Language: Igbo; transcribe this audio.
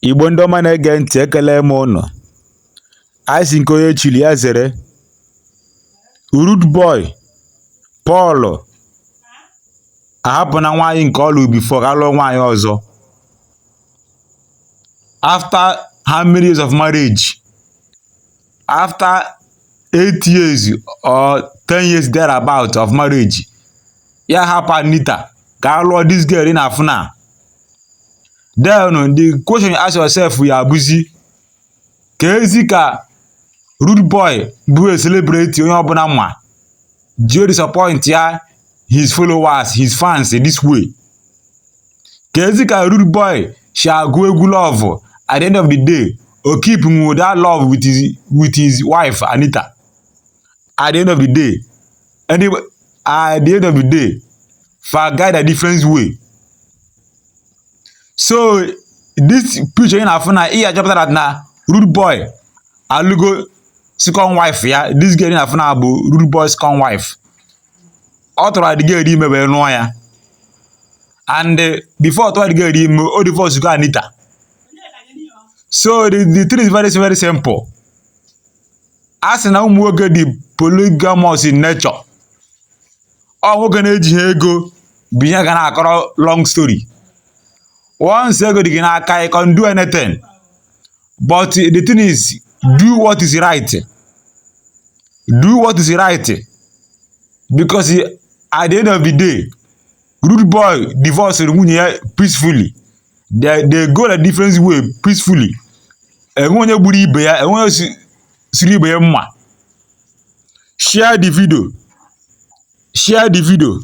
Igbo ndị ọma na-ege ntị ekele m ụnụ anyị sị nke onye chiri ya zere rude boy Paul ahapụna nwaanyị nke ọ lụrụ before ga lụọ nwaanyị ọzọ after how many years of marriage after eight years or ten years thereabout of marriage ya hapụ Anita gaa lụọ this girl ị na-afụ na then the question you ask yourself ya abụzi ka ezi ka rude boy bụ a celebrity onye ọbụla ma jiri disappoint ya his followers his fans this way ka ezi ka rude boy shi agụ egwu love at the end of the day o keep nwu that love with his with his wife Anita at the end of the day at the end of the day fa go their different way so this picture ị na-afụ na ị achọpụta that na rude boy alụgo second wife ya this girl ị na-afụ na bụ rude boy second wife ọ tụrụ the girl ime wee nụọ ya and eh, before ọ tụwa the girl ime o divorce go Anita so the, the thing is very very simple a sị na ụmụ nwoke dị polygamous in nature ọ nwoke na-ejighị ego bụ ihe ga na-akọrọ long story once ego dị gị n'aka you can do anything but the thing is do what is right do what is right because he, at the end of the day rude boy divorce nwunye ya peacefully they, they go their different way peacefully enwe onye gburu ibe ya enwe onye sụ- sụrụ ibe ya mma share the video share the video